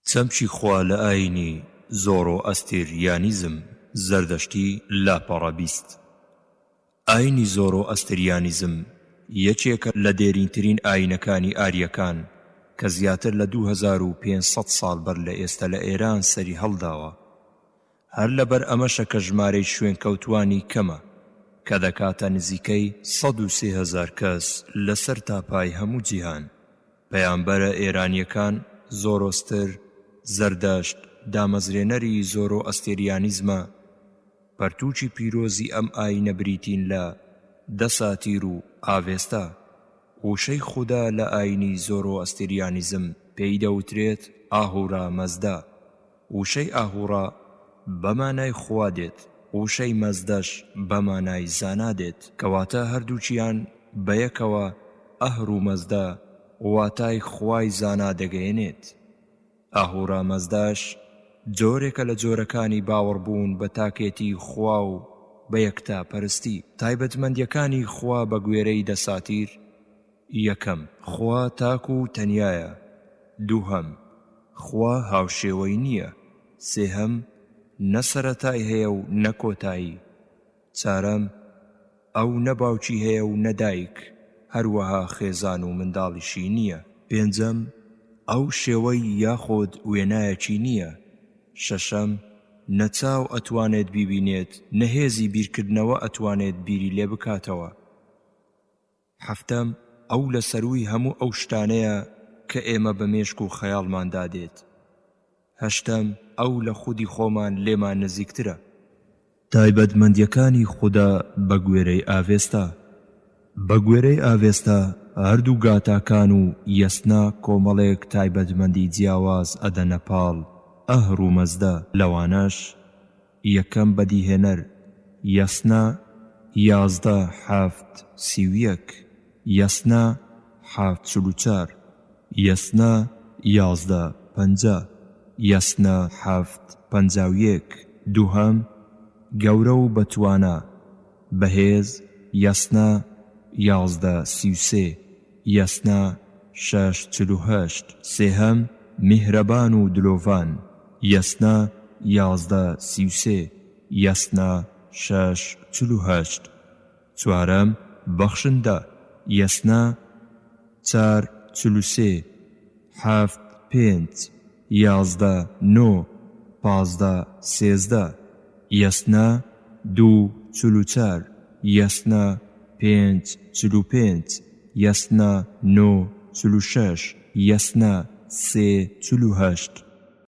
چەمکی خوا لە ئایینی زۆرۆئەستێریانیزم، زەردەشتی، لاپەڕە بیست. ئایینی زۆرۆئەستریانیزم یەکێکە لە دێرینترین ئایینەکانی ئاریەکان کە زیاتر لە دوو هەزار و پێنج سەد ساڵ بەر لە ئێستە لە ئێران سەری هەڵداوە. هەر لەبەر ئەمەشە کە ژمارەی شوێنکەوتووانی کەمە کە دەکاتە نزیکەی سەد و سێ هەزار کەس لەسەر تاپای هەموو جیهان. پەیامبەرە ئێرانیەکان زۆرۆستر، زەردەشت، دامەزرێنەری زۆرۆ ئەستێریانیزمە، پەرتوکی پیرۆزی ئەم ئاینە بریتین لە، دەساتیر و ئاڤێستا. ووشەی خودا لە ئاینی زۆرۆ ئەستێریانیزم پێی دەوترێت ئاهورا مەزدا. وشەی ئاهوڕا بە مانای خوا دێت، وشەی مەزدەش بە مانای زانا دێت، کەواتە هەردووکیان بەیەکەوە ئەهر و مەزدە واتای خوای زانا دەگەیەنێت. ئاهورا مەزداش جۆرێکە لە جۆرەکانی باوەڕبوون بە تاکێتی خوا و بە یەکتاپەرستی. تایبەتمەندییەکانی خوا بەگوێرەی دەساتیر، یەکەم، خوا تاک و تەنیایە. دووهەم، خوا هاوشێوەی نییە. سێهەم، نە سەرەتای هەیە و نە کۆتایی. چارەم، ئەو نە باوکی هەیە و نە دایک، هەروەها خێزان و منداڵیشی نییە. پێنجەم، ئەو شێوەی یاخود وێنایەکی نییە. شەشەم، نە چاو ئەتوانێت بیبینێت نە هێزی بیرکردنەوە ئەتوانێت بیری لێ بکاتەوە. حەفتەم، ئەو لە سەرووی هەموو ئەو شتانەیە کە ئێمە بە مێشک و خەیاڵماندا دێت. هەشتەم، ئەو لە خودی خۆمان لێمان نزیکترە. تایبەتمەندییەکانی خودا بە گوێرەی ئاڤێستا بە گوێرەی ئاڤێستا، هەردوو گاتاکان و یەسنا کۆمەڵێک تایبەتمەندی جیاواز ئەدەنە پاڵ ئەهرومەزدە، لەوانەش. یەکەم بەدیهێنەر، یەسنا، یازدە، حەفت، سی و یەک، یەسنا، حەفت، چل و چار، یەسنا، یازدە، پەنجا، یەسنا، حەفت، پەنجا و یەک. دووهەم، گەورە و بەتوانا. بەهێز، یەسنا، یازدە، سی و سێ، یەسنا، شەش، چل و هەشت. سێهەم، میهرەبان و دلۆڤان، یەسنا، یازدە، سی و سێ، یەسنا، شەش، چل و هەشت. چوارەم، بەخشندە، یەسنا، چار، چل و سێ، حەفت، پێنج، یازدە نۆ پازدە سێزدە یەسنا دوو چل و چار یەسنا پێنج چل و پێنج یەسنا نۆ چل و شەش یەسنا سێ چل و هەشت.